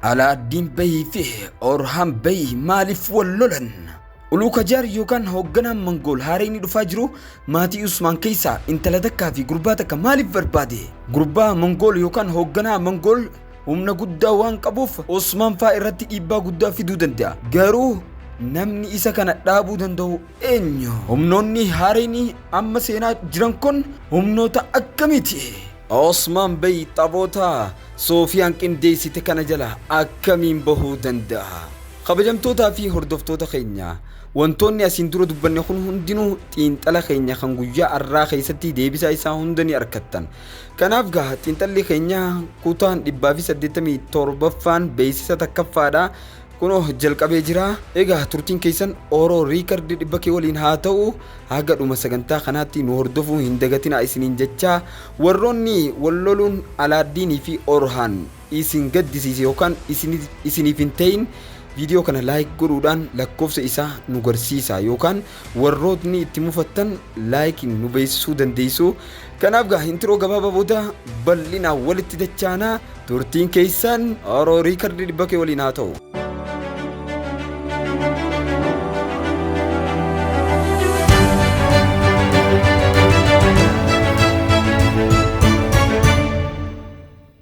Alaaddiin Bayii fi Orhaan Bayii maaliif wal lolan? Uluukajaar yookaan hoogganaan Mangool haarayni dhufaa jiru maatii Usmaan keessaa intala takkaa fi gurbaa takka maaliif barbaade? Gurbaa Mangool yookaan hoogganaa Mangool Humna guddaa waan qabuuf Osmaan faa irratti dhiibbaa guddaa fiduu danda'a. Garuu namni isa kana dhaabuu danda'u eenyu? Humnoonni haareen amma seenaa jiran kun humnoota akkamiiti? Osmaan Bey taphoota Soofiyaan qindeessite kana jala akkamiin bahuu danda'a? Kabajamtootaa fi hordoftoota keenya wantoonni asiin dura dubbanne kun hundinuu xiinxala keenya kan guyyaa har'aa keessatti deebisaa isaa hunda ni argattan. Kanaaf gaa xiinxalli keenya kutaan 187ffaan beeksisa takkaffaadha. Kunoo jalqabee jira. Egaa turtiin keessan Oro Riikardi dhibba kee waliin haa ta'u haga dhuma sagantaa kanaatti nu hordofuu hin dagatinaa isiniin jechaa warroonni wal loluun Alaaddiinii fi Orhaan isin gaddisiise yookaan isiniif hin ta'in viidiyoo kana laayik godhuudhaan lakkoofsa isaa nu garsiisa yookaan warrootni itti mufattan laayik nu beeksisuu dandeessu kanaaf gaa intiroo gabaabaa booda bal'inaan walitti dachaanaa turtiin keessaan oroo riikardii dhibba kee waliin haa ta'u.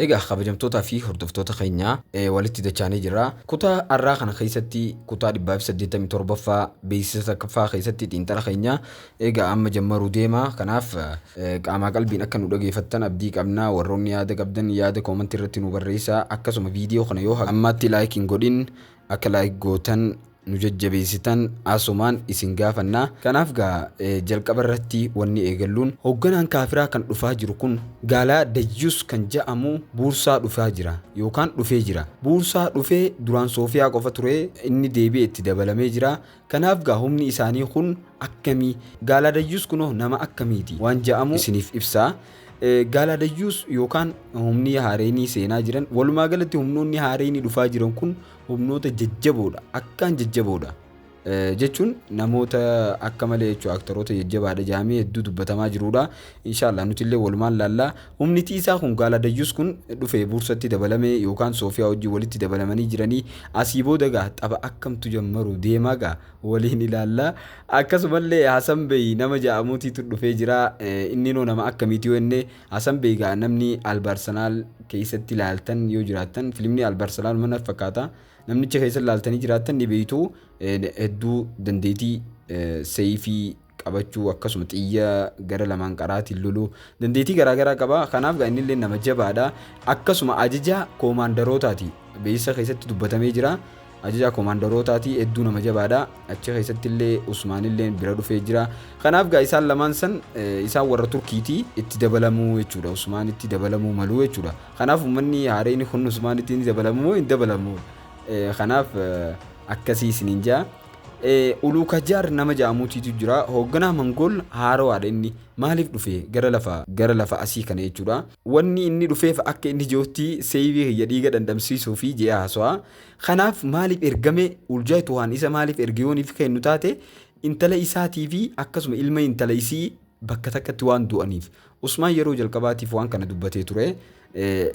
Egaa kabajamtootaa fi hordoftoota keenya walitti dachaanee jirra. Kutaa har'aa kana keessatti kutaa 187ffaa beeksisa takkaffaa keessatti xiinxala keenya egaa amma jammaruu deema. Kanaaf qaamaa qalbiin akka nu dhageeffattan abdii qabna. Warroonni yaada qabdan yaada koomantii irratti nu barreessaa. Akkasuma viidiyoo kana yoo ammaatti laayik hin godhin akka laayik gootan nu jajjabeessitan asumaan isin gaafanna. Kanaaf gaa jalqaba irratti wanni eegalluun hoogganaan kaafiraa kan dhufaa jiru kun gaalaa dayyus kan ja'amu buursaa dhufaa jira yookaan dhufee jira. Buursaa dhufe duraan soofiyaa qofa ture inni deebi'e itti dabalamee jira. Kanaaf gaa humni isaanii kun akkamii? Gaalaa dayyus kunoo nama akkamiiti? waan ja'amu isiniif ibsa. Gaalaa dayyus yookaan humni haareenii seenaa jiran walumaa galatti humnoonni haareenii dhufaa jiran kun humnoota jajjaboodha akkaan jajjaboodha jechuun namoota akka malee jechuudha aktaroota jajjabaadha jaamee hedduu dubbatamaa jiruudha inshaallah nuti illee walumaan laallaa humni tiisaa kun gaala dayyus kun dhufee buursatti dabalamee yookaan soofiyaa wajjin walitti dabalamanii jiranii asii booda gaa tapha akkamtu jammaru deemaa gaa waliin ilaallaa akkasumallee hasan beyi nama ja'amuutiitu dhufee jira inni noo nama akkamiiti yoo inni Hasan bey egaa namni albarsanaal keessatti laaltan yoo jiraattan filimni albarsanaal mana fakkaata namnicha keessatti laaltanii jiraattan ni beeytu hedduu dandeetii seeyfii qabachuu akkasuma xiyya gara lamaan qaraatiin loluu dandeetii garaagaraa qaba kanaaf gaa innillee nama jabaadha akkasuma ajaja koomaandarootaati beeysa keessatti dubbatamee jira Ajajaa komaandarootaati hedduu nama jabaadha achi keessatti illee Usmaan illee bira dhufee jira kanaaf gaa isaan lamaan san eh, isaan warra Turkiiti itti dabalamuu jechuudha Usmaan itti dabalamuu maluu jechuudha kanaaf uummanni haareen kun Usmaan itti ni dabalamuu moo hin dabalamuu Eh, kanaaf eh, akkasii isiniin jaa Eh, Uluu Kajaar nama ja'amuutiitu jira hoogganaa Mangool haarawaadha inni maaliif dhufe gara lafa gara lafa asii kana jechuudha wanni inni dhufeef akka inni jirutti seeyivii kiyya dhiiga dhandhamsiisuu fi je'a haasawaa Kanaaf maaliif ergame? Uljaayi Tuhaan isa maaliif erge yoo niif kennu taate intala isaatii fi akkasuma ilma intala isii bakka takkatti waan du'aniif. Usmaan yeroo jalqabaatiif waan kana dubbatee ture.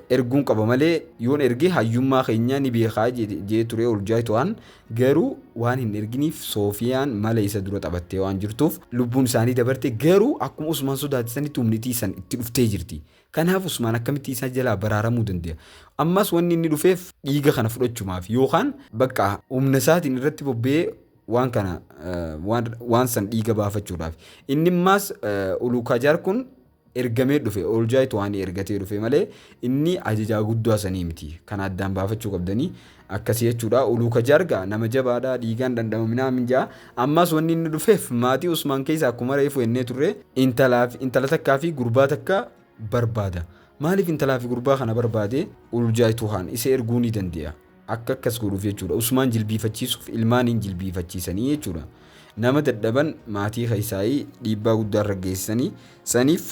Erguun qaba malee yoon erge hayyummaa keenya ni beekaa jee ture Uljaayi Tuhaan garuu waan hin erginiif Soofiyaan mala isa dura taphattee waan jirtuuf lubbuun isaanii dabarte garuu akkuma Usmaan sodaate sanitti humnitii san itti dhuftee jirti. Kanaaf Usmaan akkamitti isaa jalaa baraaramuu dande'a? Ammas wanni inni dhufeef dhiiga kana fudhachumaafi yookaan bakka humna isaatiin irratti bobba'ee waan kana waan waan san dhiiga baafachuudhaafi. Inni ammaas Uluukaajaar kun ergamee dhufe Ooljaay Tohaanii ergatee dhufe malee inni ajajaa guddaa sanii miti. Kana addaan baafachuu qabdanii. Akkasi jechuudha Uluu Kajaar gaa nama jabaadha dhiigaan dhandhamaminaa min ja'a ammaas wanni inni dhufeef maatii Usmaan keessa akkuma reefu ennee turre intalaaf intala takkaa fi gurbaa takka barbaada maaliif intalaa fi gurbaa kana barbaade Uljaaytuhaan isa erguu ni dandee'a akka akkas godhuuf jechuudha Usmaan jilbiifachiisuuf ilmaaniin jilbiifachiisanii jechuudha nama dadhaban maatii keessaayii dhiibbaa guddaa irra geessisanii saniif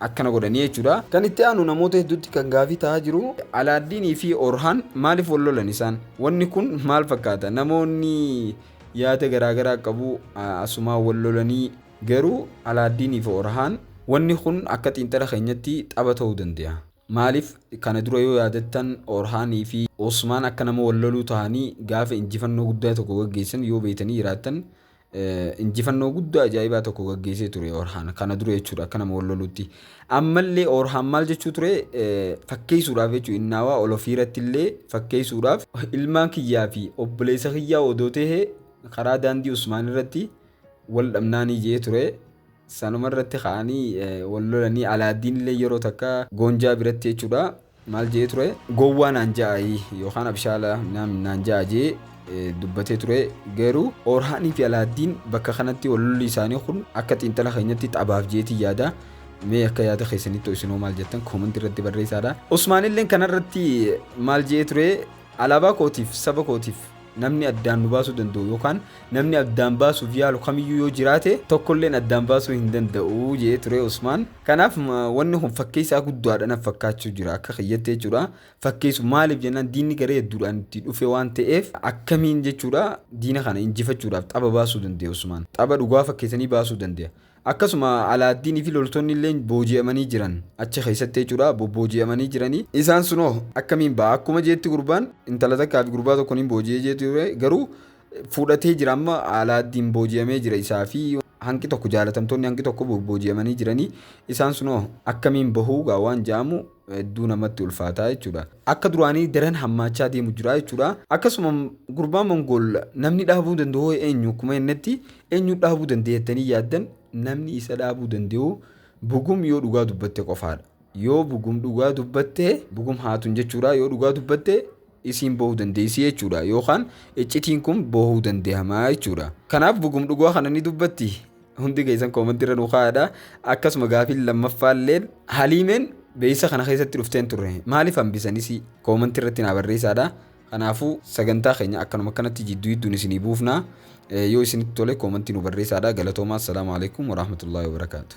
akkana godhanii jechuudha. Kan itti aanu namoota hedduutti kan gaafii tahaa jiru. Alaaddiinii fi Orhaan maaliif wal lolan isaan? Wanni kun maal fakkaata? Namoonni yaada garaa garaa qabu asumaa wal lolanii garuu Alaaddiinii fi Orhaan wanni kun akka xiinxala keenyatti xaba ta'uu danda'a. Maaliif kana dura yoo yaadattan Orhaanii fi Osmaan akka nama wal loluu tahanii gaafa injifannoo guddaa tokko gaggeessan yoo beeytanii jiraattan injifannoo guddaa ajaa'ibaa tokko gaggeessee ture Orhaan kana dura jechuudha akka nama wal lolutti. Ammallee Orhaan maal jechuu ture fakkeessuudhaaf jechuudha innaawaa ol ofiirratti illee fakkeessuudhaaf ilmaan kiyyaa fi obboleessa kiyyaa odoo ta'e karaa daandii Usmaan irratti wal dhabnaanii jee ture. Sanuma irratti ka'anii wal lolanii Alaaddiin illee yeroo takka Goonjaa biratti jechuudha maal je'ee ture gowwaa naan ja'aayii yookaan abshaala naam naan ja'a jee eh, dubbatee ture garuu orhaanii fi alaaddiin bakka kanatti walolli isaanii kun akka xiinxala keenyatti taphaaf jeetii yaada mee akka yaada keessanitti isinoo maal jettan koomanti irratti barreessaadha usmaanilleen kanarratti maal je'ee ture alaabaa kootiif saba kootiif Namni addaan nu baasuu danda'u yookaan namni addaan baasuuf yaalu kamiyyuu yoo jiraate tokkolleen addaan baasuu hin danda'u jedhee ture Usmaan. Kanaaf wanni kun fakkeessaa guddaadha naf fakkaachuu jira akka kiyyatti jechuudha. Fakkeessu maaliif jennaan diinni garee hedduudhaan itti dhufe waan ta'eef akkamiin jechuudha diina kana injifachuudhaaf xaba baasuu dandeenya Usmaan. Xaba dhugaa fakkeessanii baasuu dandeenya. Akkasuma Alaaddiinii fi loltoonni illeen booji'amanii jiran. Achi keessatti jechuudha bobbooji'amanii jiranii. Isaan sun hoo akkamiin ba'a? Akkuma jeetti gurbaan intala takkaa fi gurbaa tokko niin booji'ee jeetti ture garuu fudhatee jira amma Alaaddiin booji'amee jira isaa fi hanqi tokko jaalatamtoonni hanqi tokko bobbooji'amanii jiranii. Isaan sun hoo akkamiin bahuu gaa waan ja'amu hedduu namatti ulfaataa jechuudha. Akka duraanii daran hammaachaa deemu jira jechuudha. Akkasuma gurbaa Mongool namni dhaabuu danda'u eenyu akkuma jennetti eenyu dhaabuu danda'e jettanii yaaddan namni isa dhaabuu danda'u bugum yoo dhugaa dubbatte qofaadha. Yoo bugum dhugaa dubbatte bugum haatun jechuudha yoo dhugaa dubbatte isiin bohu dandeessi jechuudha yookaan iccitiin kun bohuu dandehama jechuudha. Kanaaf bugum dhugaa kana ni dubbatti hundi keessan koomantii irra nu kaa'adha akkasuma gaafiin lammaffaalleen haliimeen beeysa kana keessatti dhufteen turre maaliif hambisanis koomantii irratti naa barreessaadha. Kanaafuu sagantaa keenya akkanuma akkanatti jidduu jidduun isinii buufna yoo isinitti tole koomantii nu barreessaadha galatoomaa assalaamu alaikum warahmatullaahi wabarakaatu.